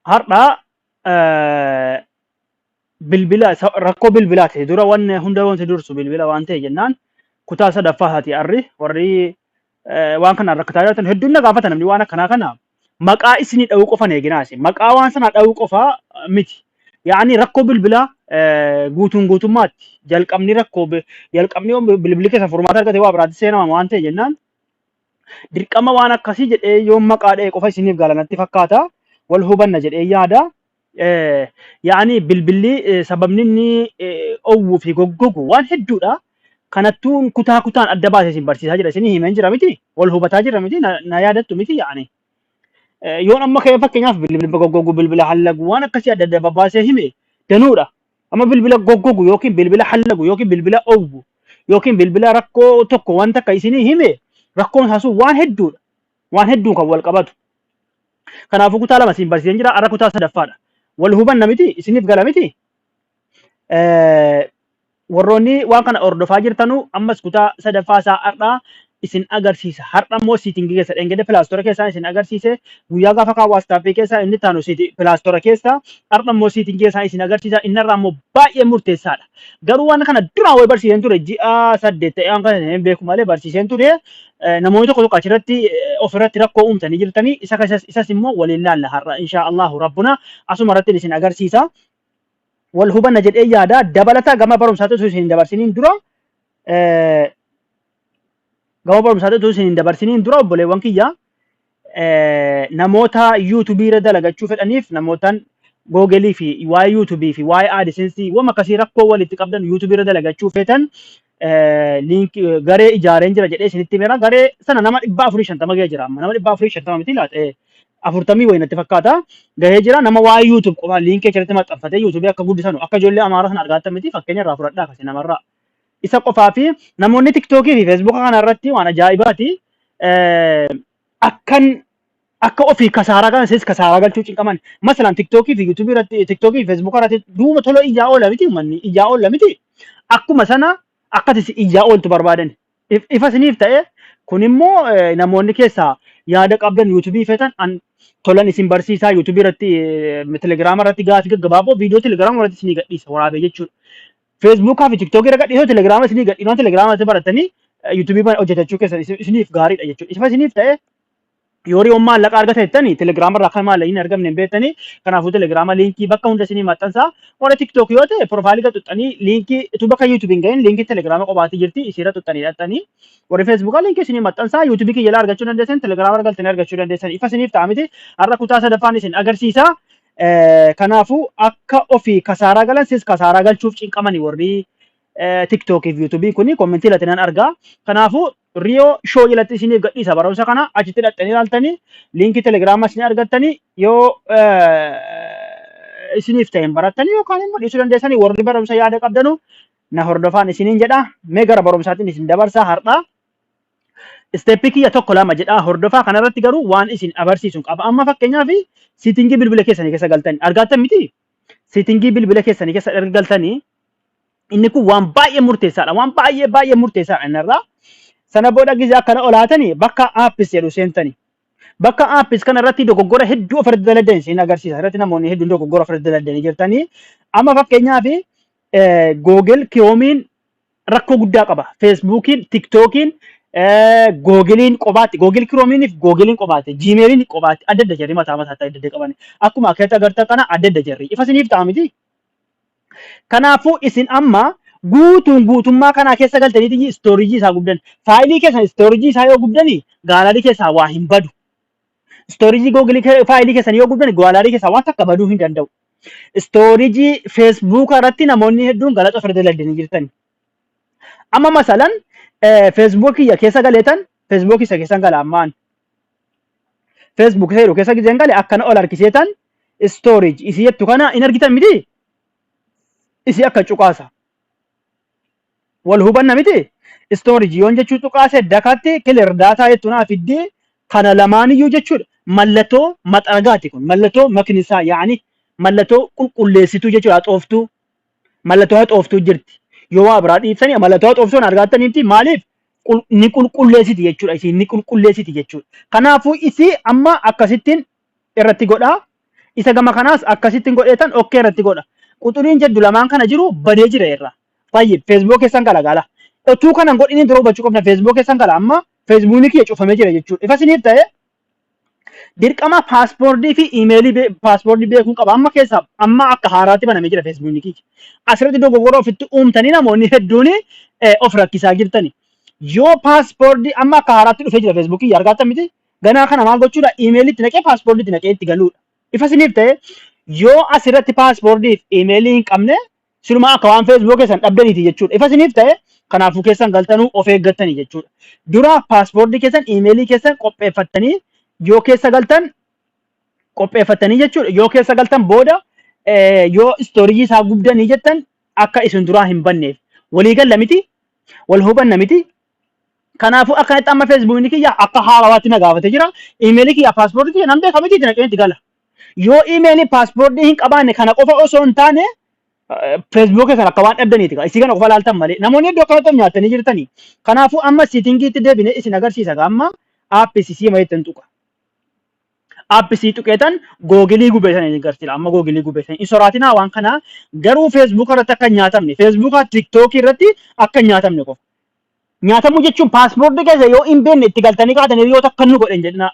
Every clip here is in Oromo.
Har'a eh, bilbila isa- rakkoo bilbilaati dura wanni hunda wanti dursu bilbila waan ta'e jennaan kutaa sadaffaa haati arri warri eh, waan kanaan rakkataa jirtan hedduun na gaafata namni waan akkanaa kana maqaa isinii dha'uu qofan eeginaa isin maqaa waan sanaa dha'uu qofaa eh, miti yaani rakkoo bilbilaa eh, guutuun guutummaatti jalqabni rakkoo bi- jalqabni yoo bilbilli keessa furmaata argate waa biraatti seenama waan ta'e jennaan dirqama waan akkasii jedhee yoon maqaa dha'e qofa isiniif gala natti fakkaata wal hubanna jedhee yaada Eh, yaani bilbilli eh, sababni inni eh, owwuu fi goggogu waan hedduudha kanattuun kutaa kutaan adda baasee isin barsiisaa jira isin himeen jira miti wal hubataa jira miti na na yaadattu miti yaani Eh, yoon amma ka'e fakkeenyaaf bilbila goggogu bilbila hallagu waan akkasii adda adda babaasee hime danuudha Amma bilbila goggogu yookiin bilbila hallagu yookiin bilbila owwu yookiin bilbila rakkoo tokko waan takka isinii hime rakkoon isaa sun waan hedduudha. Waan hedduun kan wal qabatu. Kanaafuu kutaa lama isin barsiiseen jira. Har'a kutaa sadaffaadha. Wal hubanna miti isiniif gala miti. Eh, Warroonni waan kana hordofaa jirtanuu ammas kutaa sadaffaa isaa har'aa isin agarsiisa har'a immoo siitingi keessa dhengede pilaastora keessaa isin agarsiise guyyaa gaafa kaa waastaappii keessaa inni taanu siiti pilaastora keessaa har'a immoo siitingi keessaa isin agarsiisa inni irraa immoo baay'ee murteessaadha garuu waan kana duraan wayii barsiiseen ture ji'a saddeet ta'ee waan kana hin beeku malee barsiiseen ture Eh, namoonni tokko tokko achirratti eh, ofirratti rakkoo uumtanii jirtanii isa keessas isas immoo waliin laalla har'a inshaa Allahu rabbuna asuma irratti isin agarsiisa wal hubanna jedhee yaada dabalataa gama barumsaatti osoo isin hin dabarsiniin dura eh, Gama barumsaatti utuu isin hin dabarsiniin dura obboleewwan kiyya eh, namoota yuutubii irra dalagachuu fedhaniif namootaan googelii fi waa'ee yuutubii fi waa'ee aadisensii wama akkasii rakkoo walitti qabdan yuutubii irra dalagachuu feetan eh, liink eh, garee ijaareen jira jedhee isinitti himera garee sana nama dhibba afurii shantama ga'ee jira amma nama dhibba afurii shantama miti laata eh, afurtamii wayii natti fakkaata gahee jira nama waa'ee yuutub qofa liinkii achirratti maxxanfatee yuutubii akka guddisanu akka ijoollee amaaraa sana argaattan miti fakkeenya irraa fudhadhaa kasi namarraa Isa qofaa fi namoonni tiktookii fi feesbuuka kana irratti waan ajaa'ibaati. Eh, Akkan akka ofii kasaaraa kana sis kasaaraa galchuu cinqaman. Masalan tiktookii fi yuutuubii irratti tiktookii fi feesbuuka irratti duuba tola iyyaa oola miti uummanni iyyaa oola miti. Akkuma sana akkati si iyyaa ooltu barbaadan. If- Ifa isiniif ta'e kun immoo eh, namoonni keessaa yaada qabdan yuutuubii feetan an tolan isin barsiisaa yuutuubii irratti eh, telegiraama irratti gaafii gaggabaaboo viidiyoo telegiraama irratti isinii gadhiisa waraabee jechuudha. Facebook fi TikTok irra gadhiisoo Telegram isinii gadhiinoo Telegram irratti barattanii YouTube irra hojjetachuu keessan isin- isiniif gaariidha jechuudha. Ifa isiniif ta'e yoo riyoon maallaqa argata jettani Telegram irraa akka maallaqa hin argamne hin beektani kanaafuu Telegram liinkii bakka hunda isinii maxxansaa warra TikTok yoo ta'e profaayilii irra tuqxanii liinkii utuu bakka YouTube hin gahin liinkii Telegram qophaa'aa jirti isiirra tuqxanii dhaqxanii warri Facebook liinkii isinii maxxansaa YouTube kiyya ilaa argachuu dandeessan Telegram irra galtanii argachuu dandeessan ifa isiniif ta'a miti har'a kutaa sadaffaan isin agarsiisa Eh, Kanaafuu akka ofii kasaaraa galan sis kasaaraa galchuuf cinqamani warri eh, TikTok fi YouTube kuni kommentii irratti nan argaa. Kanaafuu Riyoo Show jalatti isiniif gadhiisa barumsa kana achitti dhaqxanii ilaaltanii liinkii Telegiraamas ni argattanii yoo eh, isiniif ta'een barattanii yookaan immoo dhiisuu dandeessanii warri barumsa yaada qabdanu na hordofaan isiniin jedha. Mee gara barumsaatiin isin dabarsa har'aa. Isteeppii kiyya tokko lama jedhaa hordofaa kanarratti garuu waan isin abarsiisun qaba. Amma fakkeenyaaf siitingii bilbila keessanii keessa galtanii argaattan miti? Siitingii bilbila keessanii keessa erga galtanii inni kun waan baay'ee murteessaadha. Waan baay'ee baay'ee murteessaadha innarraa. Sana booda gizee akkana olaatanii bakka aappis jedhu seentanii. Bakka aappis kana irratti dogoggora hedduu of irratti daladan isin agarsiisa. Irratti namoonni hedduun dogoggora of irratti daladanii jirtanii. Amma fakkeenyaaf Google Kiroomiin rakkoo guddaa qaba. Feesbuukiin, Tiktookiin, Googiliin qobaatti, Googil Kiroomiiniif Googiliin qobaatti, Jiimeeliin qobaatti adda adda jirri mataa mataa adda adda qaban. Akkuma akeetti agartan kana adda adda jirri. Ifa isiniif ta'a miti. Kanaafuu isin amma guutuun guutummaa kanaa keessa galtanii istooriijii isaa gubdan. Faayilii keessan istooriijii isaa yoo gubdani gaalaarii keessaa waa hin badu. Istoorijii Google faayilii keessan yoo gubdan gaalaarii keessaa waan takka baduu hin danda'u. Istoorijii Facebook irratti namoonni hedduun galaxa ofirra daldalanii jirtani. Amma masalan Facebook kiyya keessa galeetan Facebook isa keessan gala ammaan. Facebook isa jedhu keessa gizeen gale akkana ol harkiseetan storage isii jettu kana hin argitan miti isii akka cuqaasa. Wal hubanna miti? Storage yoon jechuu cuqaase dakatti clear data jettu naa fiddi kana lamaaniyyuu jechuudha. Mallatoo maxaragaati kun. Mallatoo maknisaa yaani mallatoo qulqulleessituu jechuudha haxooftuu. Mallatoo haxooftuu jirti. Yoo waa biraa dhiiftanii mallatoo haxooftuun argaattan miti maaliif qul- ni qulqulleessiti jechuudha isiin ni qulqulleessiti jechuudha. Kanaafuu isii amma akkasittiin irratti godha. Isa gama kanaas akkasittiin godheetan okkee irratti godha. Quxuriin jedhu lamaan kana jiru badee jira irra. Fayyib feesbuuk keessan gala gala. Otuu kana hin godhiniin dura hubachuu qabna feesbuuk keessan gala amma feesbuukni kiyya cufamee jira jechuudha. Ifa isiniif ta'e dirqama paaspoortii fi imeelii bee- paaspoortii beekuun qaba. Amma keessa amma akka haaraatti banamee jira feesbuukni kiyya. Asirratti dogoggora ofitti uumtanii namoonni hedduun eh, of rakkisaa jirtani. Yoo paaspoortii amma akka haaraatti dhufee jira feesbuukii argaattan miti Ganaa kana maal gochuudha? Iimeeliitti naqee paaspoordiitti naqee itti galuudha. Ifa isiniif ta'e yoo asirratti paaspoordiif iimeelii hin qabne silumaa akka waan feesbuukii keessan dhabdaniiti jechuudha. Ifa isiniif ta'e kanaafuu keessan galtanuu of eeggattanii jechuudha. Dura paaspoortii keessan iimeelii keessan qopheeffattanii yoo keessa galtan qopheeffattanii jechuudha. Yoo keessa galtan booda eh, yoo istoorijii isaa gubdanii jettan akka isin duraa hin banneef. Walii galla miti, wal hubanna miti, Kanaafuu akkanatti amma feesbuukni kiyya akka haarawaatti na gaafate jira. Imeelii kiyya paaspoortii kiyya nan beeka miti itti naqeen itti gala. Yoo imeelii paaspoortii hin qabaanne kana qofa osoo hin taane feesbuukii kana akka waan dhabdaniiti gaa. Isii kana qofa laaltan malee. Namoonni iddoo kanatti of nyaattanii jirtanii. Kanaafuu amma siitingiitti deebinee isin agarsiisa gaa amma aappii sisii mayeettan tuqa. Aappi sii tuqeetan googilii gubeetan isin agarsiisa amma googilii gubeetan hin soraatinaa waan kanaa garuu feesbuuka irratti akka hin nyaatamne feesbuuka tiktookii irratti akka hin nyaatamne qofa. Nyaatamuu jechuun paaspoortii keessa yoo hin beekne itti galtanii kaatan hiriyoota akka nu godhan jedhinaa.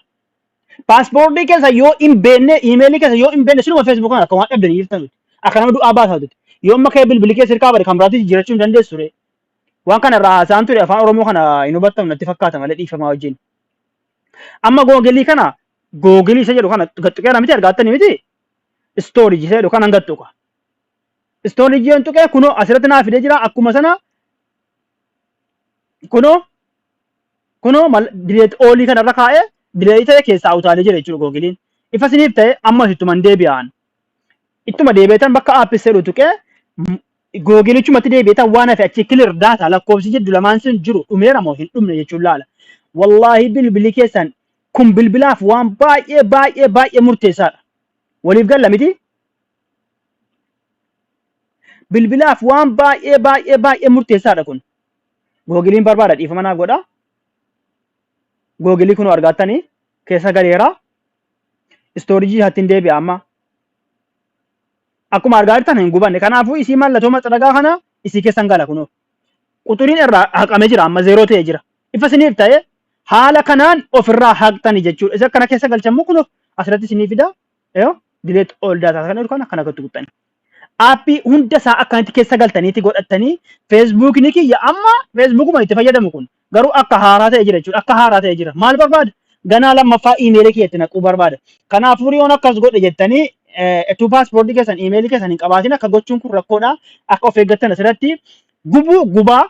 Paaspoortii keessa yoo hin beekne iimeelii keessa yoo hin beekne sinuma feesbuuk kana akka waan dhabdanii jirtan nuti. Akka nama du'aa baasaa tuti. Yoo amma kee bilbili keessa hirkaa bade kan biraatti jijjiirachuu hin dandeessu ture. Waan kana irraa haasa'an ture afaan Oromoo kana hin hubattan natti fakkaata malee dhiifamaa wajjin. Amma googilii kana googilii isa jedhu kana gattuqeera miti argaattanii miti istooriji isa jedhu kana hin gattuqa. Istoon ijjeen tuqee kunoo asirratti naa fidee jira akkuma sana kunoo kunoo dileet oolii kanarra kaa'ee dileetii ta'e keessaa utaalee jira jechuudha googiliin. Ifa isiniif ta'e ammas ittuma hin deebi'aan. Ittuma deebi'eetan bakka aappis jedhu tuqee googilichumatti deebi'eetan waan hafe achi kilir daataa lakkoofsi jiddu lamaan sun jiru dhumeera moo hin dhumne jechuun laala. Wallaahi bilbili keessan kun bilbilaaf waan baay'ee baay'ee baay'ee murteessaadha. Waliif galla miti? Bilbilaaf waan baay'ee baay'ee baay'ee murteessaadha kun. Googiliin barbaada dhiifama naaf godha. Googilii kunoo argaattanii keessa galeera. Istoorijii hattiin deebi'a amma. Akkuma argaa jirtan hin gubanne. Kanaafuu isii mallattoo maxxaragaa kana isii keessan gala kunoo. Quxuriin irraa haqamee jira amma zeeroo ta'ee jira. Ifa isiniif ta'ee haala kanaan ofirraa haqxani jechuudha. Isa kana keessa galchammoo kunoo asirratti isinii fida. Yoo delete all data kan jedhu kana kana gotti guttani. Aappii hunda isaa akkanatti keessa galtaniiti godhattanii Facebook ni kiyya amma Facebook ma itti fayyadamu kun garuu akka haaraa ta'e jira jechuudha akka haaraa ta'e jira maal barbaada ganaa lammaffaa iimeelii kiyya itti naquu barbaada kanaafuu yoon akkas godhe jettanii etuu paaspoortii keessan iimeelii keessan hin qabaatin akka gochuun kun rakkoodha akka of eeggattan asirratti gubuu gubaa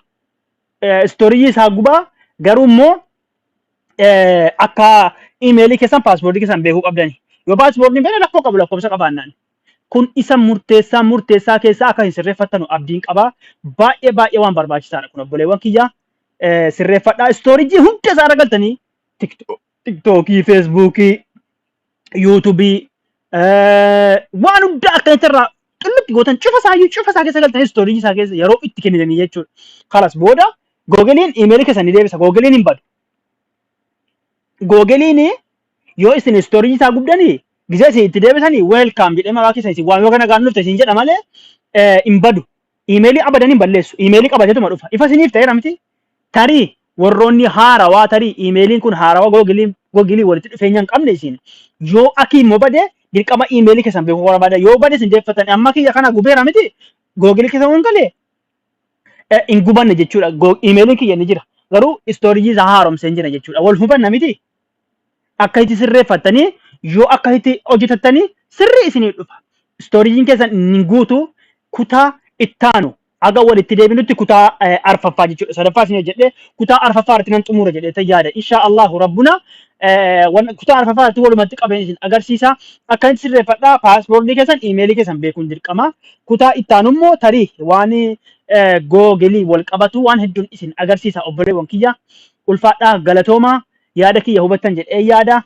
eh, istooriyyii isaa gubaa garuu immoo eh, akka imeelii keessan paaspoortii keessan beekuu qabdani. Yoo paaspoortiin fedhe rakkoo qabu lakkoofsa qabaannaan. Kun isa murteessaa murteessaa keessaa akka hin sirreeffattanu abdiin qaba. Baay'ee baay'ee waan barbaachisaadha kun obboleewwan kiyya. Eh, Sirreeffadhaa istoorijii hunda isaa irra galtanii tiktookii, feesbuukii, yuutubii waan hundaa akkanatti irraa xullutti gootan cufa isaa iyyuu cufa isaa keessa galtan istoorii isaa keessa yeroo itti kennitanii jechuudha. Kalas booda googiliin iimeelii keessan ni deebisa googiliin hin badu. Googiliin yoo isin istoorii isaa gubdanii gizee isin itti deebisanii weelkaam jedhee maqaa keessa isin waan yoo kana gaannufte isin jedha malee hin badu. Iimeelii abadan hin balleessu. Iimeelii qabateetuma dhufa. Ifa isiniif ta'eera miti? Tarii warroonni haarawaa tarii iimeeliin kun haarawaa googilii googilii walitti dhufeenya hin qabne isin yoo akii immoo bade dirqama iimeelii keessan beekuu barbaada yoo bade isin deeffattan amma kiyya kana gubeera miti googilii keessa waan galee eh, hin gubanne jechuudha Go- iimeeliin kiyya ni jira garuu istoorijii isaa haaromsee hin jira jechuudha wal hubanna miti akkasitti sirreeffattanii yoo akkasitti hojjetattanii sirrii isinii dhufa. Istoorijiin keessan ni guutu kutaa ittaanu haga walitti deebinutti kutaa eh, arfaffaa jechuudha. Sadaffaa isin hojjedhe kutaa arfaffaa irratti nan xumura jedhee tan yaada. Insha Allahu rabbuna eh, wan- kutaa arfaffaa irratti walumatti qabeen isin agarsiisa. Akkasitti sirreeffadhaa paaspoortii keessan iimeelii keessan beekuun dirqama. Kutaa ittaanu immoo tarii waan Googiliin wal qabatu waan hedduun isin agarsiisa obboleewwan kiyya. Ulfaadhaa galatoomaa yaada kiyya hubattan jedhee yaada.